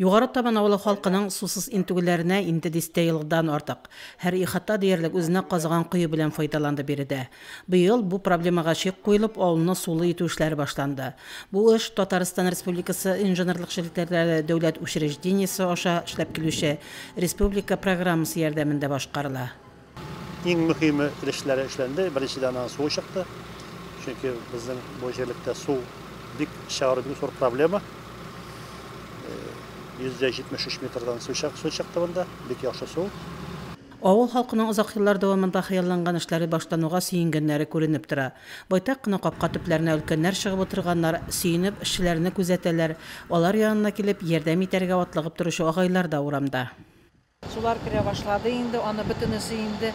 Югары Табан авылы халкының сусыз интегүләренә инде дистә елдан артык. Һәр ихата диярлек үзенә казыган кое белән файдаланды биредә. Быел бу проблемага чик куелып, авылны сулы итү эшләре башланды. Бу эш Татарстан Республикасы инженерлык челтәрләре дәүләт учреждениесе аша эшләп килүче республика программасы ярдәмендә башкарыла. Иң мөһиме өлешләре эшләнде. Беренчедән аннан су чыкты. Чөнки безнең бу җирлектә су бик чыгару бик зур проблема. 173 э, метрдан су чыкты монда, бик яхшы су. Авыл халкының озак еллар дәвамында хыялланган эшләре башлануга сөенгәннәре күренеп тора. Байтак кына капка төпләренә өлкәннәр чыгып утырганнар, сөенеп, эшчеләрне күзәтәләр, алар янына килеп, ярдәм итәргә атлыгып торучы агайлар да урамда. Сулар керә башлады инде, аны бөтенесе инде,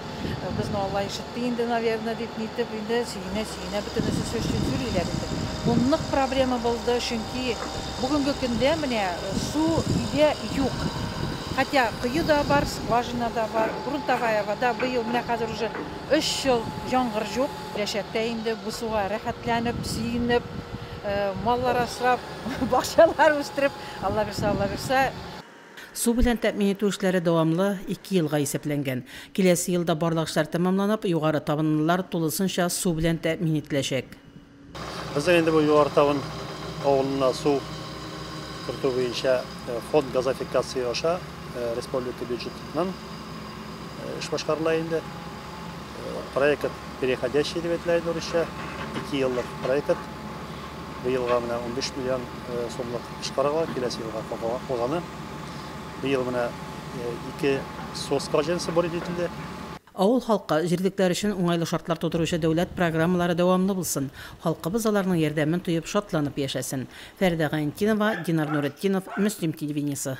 безне Алла ишетте инде, наверное, дип нитеп, инде сөенә-сөенә бөтенесе сөйлиләр инде. Бу нык проблема булды, чөнки бүгенге көндә менә су өйдә юк. Хотя кое да бар, скважина да бар, грунтовая вода, быел менә хәзер уже өч ел яңгыр юк. Киләчәктә инде бу суга рәхәтләнеп, сөенеп, маллар асрап, бакчалар үстереп, Аллабирса, Аллабирса, Су белән тәэмин итү эшләре дәвамлы ике елга исәпләнгән. Киләсе елда барлык эшләр тәмамланып, югары табынлылар тулысынча су белән тәэмин ителәчәк. Безнең инде бу Югары Табын авылына су кертү буенча фонд газофикация аша республика бюджетыннан эш башкарыла инде. Проект переходящий дип әйтелә инде урысча, ике еллык проект. Бу елга менә унбиш миллион сумлык чыгарыла, киләсе елга калганы. Бу ел менә ике СОС колхозенысы бурит ителде. Авыл халкы, җирлекләр өчен уңайлы шартлар тудыручы дәүләт программалары дәвамлы булсын, халкыбыз аларның ярдәмен тоеп, шатланып яшәсен. Фәридә Гайнтинова, Динар Нуретдинов, Мөслим телевидениесе.